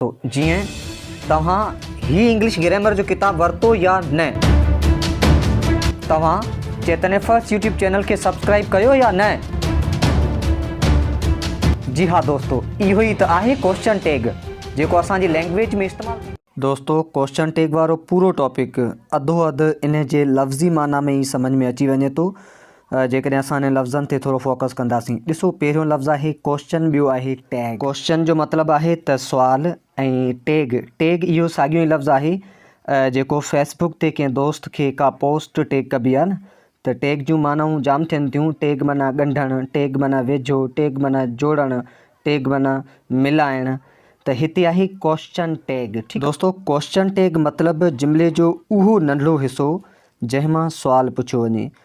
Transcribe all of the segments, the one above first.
جيئن توهان هي انگلش گريمر جو ڪتاب ورتو يا نه توهان چيتني فرسٽ يوٽيوب چينل کي سبسڪرائب ڪيو يا نه جي ها دوستو اهو ئي ته آهي ڪوشچن ٽيگ جيڪو اسان جي لينگويج ۾ استعمال دوستو ڪوشچن ٽيگ وارو پورو ٽاپڪ اڌو اڌ ان جي لفظي معنيٰ ۾ ئي سمجھ ۾ اچي وڃي ٿو جيڪڏهن اسان انهن لفظن تي ٿورو فوڪس ڪنداسين. ڏسو پهريون لفظ آهي ڪوئسچن ٻيو آهي ٽيگ. ڪوئسچن جو مطلب آهي ته سوال ۽ ٽيگ، Tag، اهو ساڳيو ئي لفظ آهي جيڪو فيس بوڪ تي ڪنهن دوست کي ڪا پوسٽ ٽيگ ڪبي آهي نه ته ٽيگ جون معنائون جام ٿين ٿيون ٽيگ معنيٰ ڳنڍڻ، ٽيگ معنيٰ ويجهو، ٽيگ معنيٰ جوڙڻ، ٽيگ معنيٰ ملائڻ ته هتي آهي ڪوئسچن ٽيگ. دوستو ڪوئسچن ٽيگ مطلب جملي جو اهو ننڍڙو حصو جنهن مان سوال پڇيو وڃي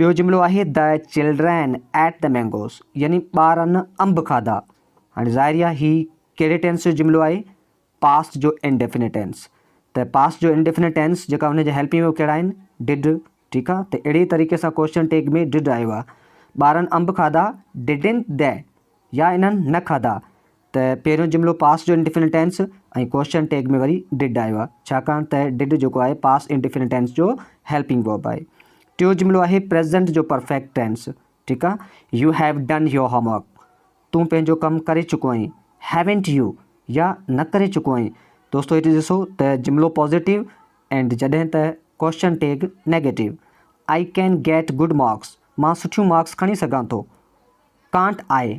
ٻيو جملو آهي The children ate the mangoes يعني ٻارن انب کاڌا. هاڻي ظاهري آهي هي ڪهڙي ٽينس جو جملو آهي؟ پاسٽ جو انڊيفنٽ ٽينس. ته پاسٽ جو انڊيفنٽ ٽينس جيڪا هن جا هيلپنگ ويو ڪهڙا آهن؟ Did ٺيڪ آهي ته اهڙي طريقي سان ڪوشچن ٽيگ ۾ Did آيو آهي. ٻارن انب کاڌا Didn't they يا انهن نه کاڌا. ته پهريون جملو پاسٽ جو انڊيفنٽ ٽينس ۽ ڪوشچن ٽيگ ۾ وري ڊڊ آيو آهي ڇاڪاڻ ته ڊڊ جيڪو آهي پاسٽ انڊيفنٽ ٽينس جو هيلپنگ ورب آهي ٽيون جملو آهي پريزنٽ جو پرفيڪٽ ٽينس ٺيڪ آهي you have done your homework تون پنهنجو ڪم ڪري چڪو آهين هيونٽ يو يا نه ڪري چڪو آهين دوستو هتي ڏسو ته جملو پازيٽو اینڈ جڏهن ته question tag negative I can get good marks مان سٺيون مارڪس کڻي سگھان ٿو ڪانٽ آئي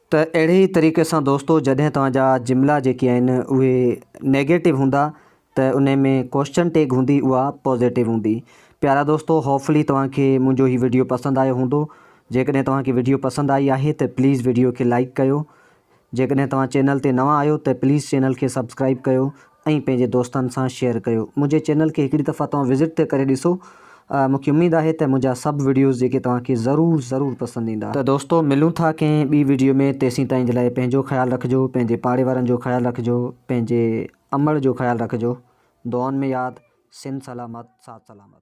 ته اهڙي ئي طريقي سان دوستو جڏهن توهان جا جملا جيڪي آهن اهي نيگيٽو هوندا ته انهي ۾ ڪوشچن ٽيگ هوندي اها پوزيٽو هوندي. پيارا دوستو هوفلي توهان کي منهنجو هي وڊيو پسند آيو هوندو جيڪڏهن توهان کي وڊيو پسند آئي آهي ته پليز وڊيو کي لائڪ ڪيو جيڪڏهن توهان چينل تي نوان آهيو ته پليز چينل کي سبسڪرائب ڪيو. ۽ پنهنجي دوستن سان شيئر ڪيو منهنجي چينل کي هڪڙي دفعا توهان وزٽ تي ڪري ڏسو مون کي اميد آهي ته منهنجا سڀ وڊيوز جيڪي توهان کي ضرور ضرور پسند ايندا. ته دوستو ملون ٿا ڪنهن ٻي وڊيو ۾ تيسين تائين جي لاء پنهنجو خيال رکجو پنهنجي پاڙي وارن جو خيال رکجو پنهنجي امڙ جو خيال رکجو دعائن ۾ ياد سنڌ سلامت ساٿ سلامت.